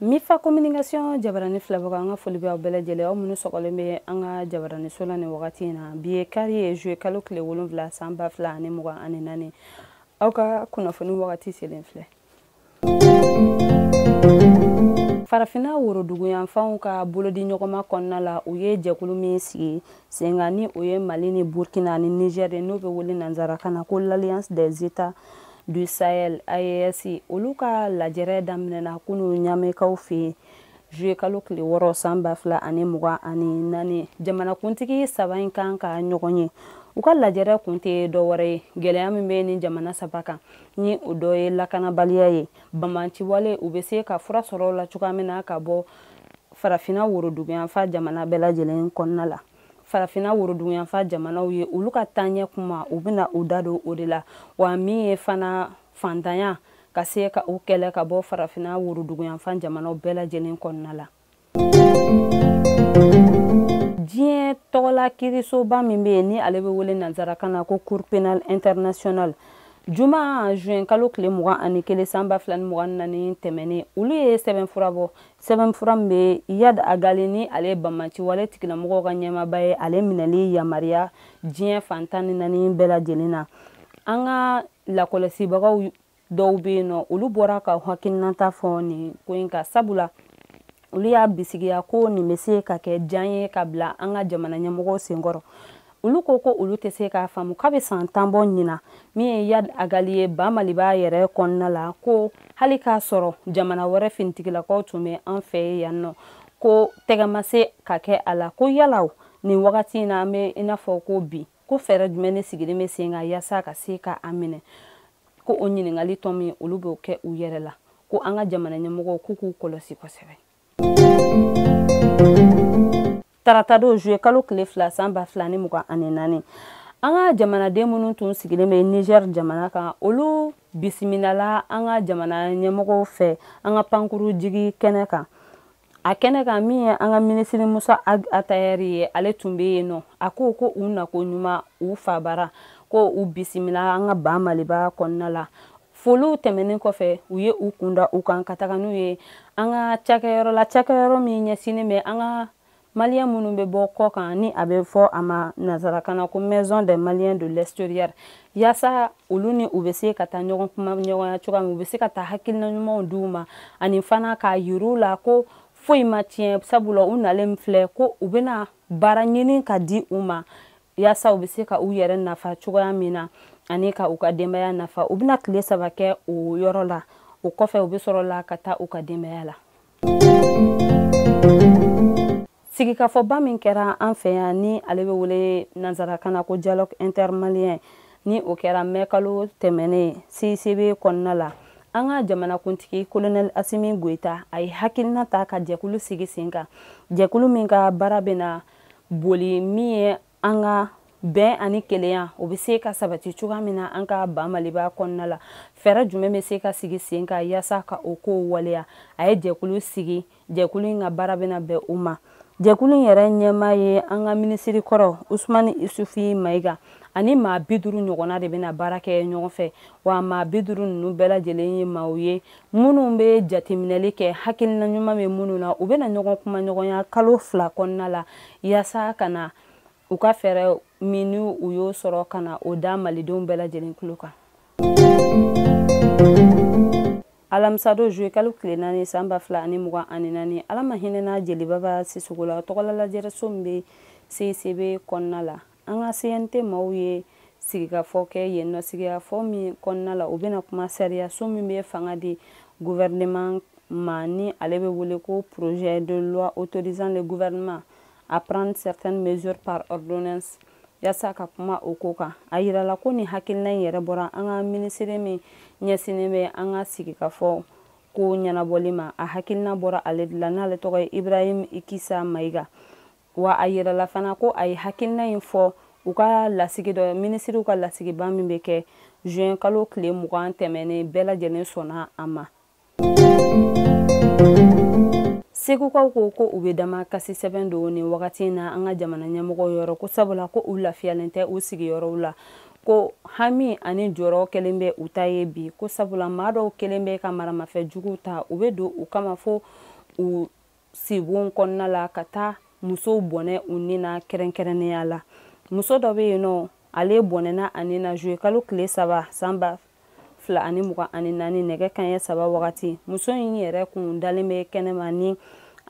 mifa communication jabarani filɛbagaw an ka foli bɛ aw bɛɛ lajɛlen aw minnu sɔgɔlen bɛ an ka jabarani so la nin wagati in na bi ye kari ye juye kalo tile wolonwula san ba fila ani mugan ani naani aw ka kunnafoni wagati selen filɛ farafinna woroduguyanfanw ka bolodiɲɔgɔnma kɔnɔna la u ye jɛkulu min sigi sen kan ni o ye mali ni burkina ni niger ye n'o bɛ wele nanzarakan na ko l'alliance des états du sahel aes olu ka lajɛrɛ daminɛna kunu ɲamekaw fɛ yen juye kalo tile wɔɔrɔ san ba fila ani mugan ani naani jamanakuntigi saba in kan ka ɲɔgɔn ye u ka lajɛrɛ kun tɛ dɔ wɛrɛ ye gɛlɛya min bɛ nin jamana saba kan ni o dɔ ye lakanabaliya ye banbaanciwale u bɛ se ka fura sɔrɔ o la cogoya min na ka bɔ farafina woroduguyanfan jamana bɛɛ lajɛlen kɔnɔna la farafina woroduguyanfan jamanaw ye olu ka taaɲɛ kuma u bɛna u da don o de la wa min ye fana fantanya ka se ka o kɛlɛ ka bɔ farafina woroduguyanfan jamanaw bɛɛ lajɛlen kɔnɔna la diɲɛ tɔgɔla kiirisoba min bɛ yen ni ale bɛ wele nanzarakan na ko cour pénale internationale juma juin kalo tile mugan ani kelen san ba fila ni mugan ni naani tɛmɛnen olu ye sɛbɛnfura bɔ sɛbɛnfura min bɛ iyad ag ghali ni ale ye banbaanciwale tigilamɔgɔw ka ɲɛmaaba ye ale minɛli yamaruya diɲɛ fan tan ni naani bɛɛ lajɛlen na an ka lakɔlɔsibagaw dɔw bɛ yen nɔ olu bɔra ka hakilinata fɔ nin ko in kan sabula olu y'a bisigiya ko nin bɛ se ka kɛ jan ye ka bila an ka jamana ɲɛmɔgɔw sen kɔrɔ olu ko ko olu tɛ se k'a faamu k'a bɛ san tan bɔ ɲinan min ye iyad ag ghali ye ba maliba yɛrɛ kɔnɔna la ko hali k'a sɔrɔ jamana wɛrɛ finitigilakaw tun bɛ an fɛ ye yan nɔ ko tɛgɛ ma se ka kɛ a la ko yalaw nin wagati in na an bɛ i n'a fɔ ko bi ko fɛɛrɛ jumɛn ne sigilen bɛ sen kan yaasa ka se ka a minɛ ko o ɲininkali tɔ min olu b'o kɛ u yɛrɛ la ko an ka jamana ɲɛmɔgɔw k'u k'u kɔlɔsi kosɛbɛ tarata don juye kalo tile fila san ba fila ni mugan ani naani an ka jamanaden minnu tun sigilen bɛ niger jamana kan olu bisimilala an ka jamana ɲɛmɔgɔw fɛ an ka pankurun jigin kɛnɛ kan a kɛnɛ kan min ye an ka minisiri musa atayɛri ye ale tun bɛ yen nɔ a ko ko u nako ɲuman u fabara ko u bisimila an ka ba maliba kɔnɔna la foliw tɛmɛnen kɔfɛ u ye u kunda u kan ka taga n'u ye an ka cakɛyɔrɔ la cakɛyɔrɔ min ɲɛsinnen bɛ an ka maliyɛn minnu bɛ bɔ kɔkan ni a bɛ fɔ a ma nansarakan na ko maison des maliens de l'extérieur yaasa olu ni u bɛ se ka taa ɲɔgɔn kumaɲɔgɔnya cogoya min u bɛ se ka taa hakilina ɲumanw di u ma ani fana k'a yir'u la ko foyi ma tiɲɛ sabula u nalen filɛ ko u bɛna baara ɲini ka di u ma yasa u bɛ se ka u yɛrɛ nafa cogoya min na ani ka u ka denbaya nafa u bɛna tile saba kɛ o yɔrɔ la o kɔfɛ u bɛ sɔrɔ la ka taa u ka denbaya la sigikafɔba min kɛra an fɛ yan ni ale bɛ wele nansarakan na ko dialogue intermalien ni o kɛra mɛ kalo tɛmɛnen cicb kɔnɔna la an ka jamanakuntigi kolonɛli asimi goyita a ye hakilina ta ka jɛkulu sigi sen kan jɛkulu min ka baara bɛna boli min ye an ka bɛn ani kelenya o bɛ se ka sabati cogoya min na an ka ba maliba kɔnɔna la fɛɛrɛ jumɛn bɛ se ka sigi sen kan yaasa ka o ko waleya a ye jɛkulu sigi jɛkulu in ka baara bɛna bɛn o ma jɛkulu in yɛrɛ ɲɛmaa ye an ka minisiri kɔrɔ usumani isufi mayiga ani maa bi duuru ɲɔgɔnna de bɛna baara kɛ ɲɔgɔn fɛ wa maa bi duuru ninnu bɛɛ lajɛlen ye maaw ye minnu bɛ jateminɛli kɛ hakilina ɲuman bɛ minnu na u bɛna ɲɔgɔn kumaɲɔgɔnya kalo fila kɔnɔna la yaasa ka na u ka fɛɛrɛ min ni u y'o sɔrɔ ka na o da malidenw bɛɛ lajɛlen tulo kan alamisado zuwe kalo tile naani san ba fila ani mugan ani naani ala ma hinɛna jeli baba sisɔkɔ la tɔgɔla lajɛrɛso min bɛ cicb kɔnɔna la an ka cnt maaw ye sigikafɔ kɛ yen nɔ sigikafɔ min kɔnɔna la u bɛna kuma sariyaso min bɛ fanga di gouvernement ma ni ale bɛ wele ko projet de loi autorisant le gouvernement à prendre certaines mesures par ordonnance yasa ka kuma o ko kan a yirala ko nin hakilina in yɛrɛ bɔra an ka minisiri min ɲɛsinnen bɛ an ka sigikafɔ ko ɲɛnabɔli ma a hakilina bɔra ale de la n'ale tɔgɔ ye ibrahim ikisa mayiga wa a yirala fana ko a ye hakilina in fɔ u ka lasigi dɔ minisiriw ka lasigiba min bɛ kɛ juin kalo tile mugan tɛmɛnen bɛɛ lajɛlen sɔnna a ma segukaw ko ko u bɛ damakasi sɛbɛn don nin wagati in na an ka jamana ɲɛmɔgɔw yɔrɔ ko sabula ko u lafiyalen tɛ u sigiyɔrɔw la ko hami ani jɔrɔ kɛlen bɛ u ta ye bi ko sabula maa dɔw kɛlen bɛ ka maramafɛn juguw ta u bɛ don u kama fo u sibon kɔnɔna la ka taa musow bɔnɛ u ni na kɛrɛnkɛrɛnnenya la muso dɔ bɛ yen nɔ ale bɔnɛna a ni na juwe kalo tile saba san ba fila ani mugan ani naani nɛgɛ kanɲɛ saba wagati muso in yɛrɛ kun dalen bɛ kɛnɛma ni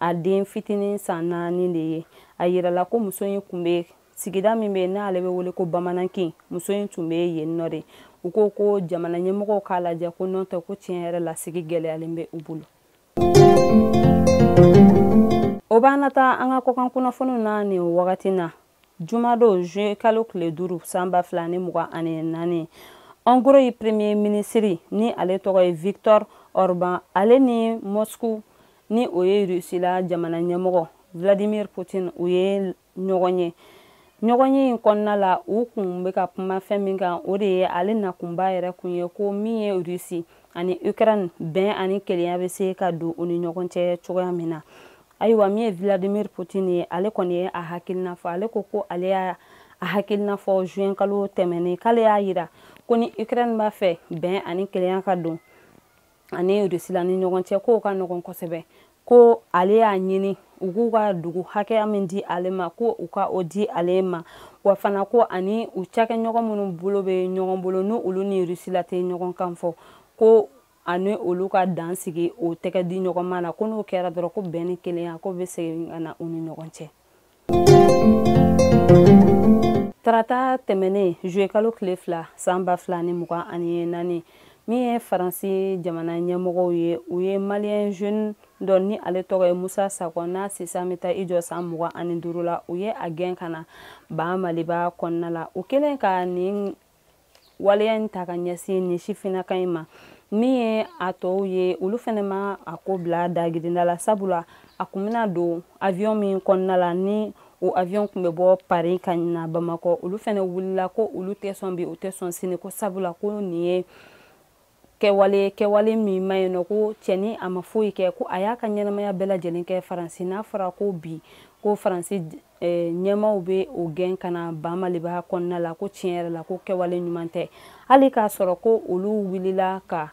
a den fitinin san naani de ye a yirala ko muso in kun bɛ sigida min bɛ n'ale bɛ wele ko bamanankin muso in tun bɛ yen nɔ de u ko ko jamana ɲɛmɔgɔw k'a lajɛ ko n'o tɛ ko tiɲɛ yɛrɛ la sigi gɛlɛyalen bɛ u bolo o b'an nataa an ka kɔkan kunnafoniw na nin wagati na jumadon juwe kalo tile duuru san ba fila ni mugan ani naani hongrie premier ministre ni ale tɔgɔ ye victor orban ale ni moscou ni o ye russie la jamana ɲɛmɔgɔ vladimir putin u ye ɲɔgɔn ye ɲɔgɔn ye in kɔnɔna la u kun bɛ ka kuma fɛn min kan o de ye ale nakunba yɛrɛ kun ye ko min ye rusi ani ukraine bɛn ani kelenya bɛ se ka don u ni ɲɔgɔn cɛ cogoya min na ayiwa min ye vladimir putin ye ale kɔni ye a hakilina fɔ ale ko ko ale y'a hakilina fɔ juin kalo tɛmɛnen k'ale y'a yira ko ni ukraine b'a fɛ bɛn ani kelenya ka don ani rusila ni ɲɔgɔn cɛ k'o ka nɔgɔn kosɛbɛ ko ale y'a ɲini u k'u ka dugu hakɛya min di ale ma ko u ka o di ale ma wa fana ko ani u cakɛɲɔgɔn minnu bolo bɛ ɲɔgɔn bolo ni olu ni rusila tɛ ɲɔgɔn kan fɔ ko ani olu ka dan sigi o tɛgɛ di ɲɔgɔn ma na ko n'o kɛra dɔrɔn ko bɛn ni kelenya ko bɛ segin ka na u ni ɲɔgɔn cɛ tarata tɛmɛnen juye kalo tile fila san ba fila ni mugan ani naani min ye faransi jamana ɲɛmɔgɔw ye u ye maliyɛn jeune dɔ ni ale tɔgɔ ye musa sakɔ n'a si san bɛ taa i jɔ san mugan ani duuru la u ye a gɛn ka na ba maliba kɔnɔna la u kɛlen ka nin waleya in ta ka ɲɛsin nin sifinnaka in ma min ye a tɔw ye olu fɛnɛ ma a ko bila dagirinda la sabula a kun bɛna don avion min kɔnɔna la ni o avion kun bɛ bɔ paris ka na bamakɔ olu fɛnɛ wulila ko olu tɛ sɔn bi u tɛ sɔn sini ko sabula ko nin ye kɛwale kɛwale min ma yen nɔ ko cɛni a ma foyi kɛ ko a y'a ka ɲɛnamaya bɛɛ lajɛlen kɛ faransi n'a fɔra ko bi ko faransi eh, ɲɛmaw bɛ o gɛn ka na ba maliba kɔnɔna la ko tiɲɛ yɛrɛ la ko kɛwale ɲuman tɛ hali k'a sɔrɔ ko olu wulila ka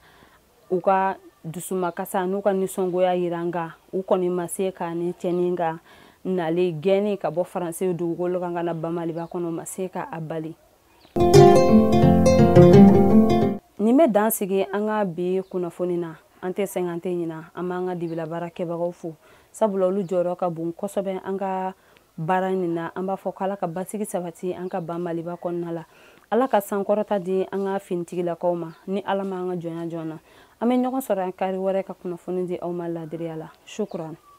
u ka dusumakasa n'u ka nisɔngoya yira nka u kɔni ma se ka ni cɛni ka nale gɛnni ka bɔ faransi dugukolo kan ka na ba maliba kɔnɔ ma se ka a bali nin bɛ dan sigi an ka bi kunnafoni na an tɛ sɛgɛn an tɛ ɲina an b'an ka dibila baarakɛbagaw fo sabula olu jɔyɔrɔ ka bon kosɛbɛ an ka baara nin na an b'a fɔ ko ala ka basigi sabati an ka ba maliba kɔnɔna la ala ka sankɔrɔta di an ka finitigilakaw ma ni ala ma an ka jɔnya jɔn na an bɛ ɲɔgɔn sɔrɔ an kari wɛrɛ ka kunnafoni di aw ma laadiriya la shukran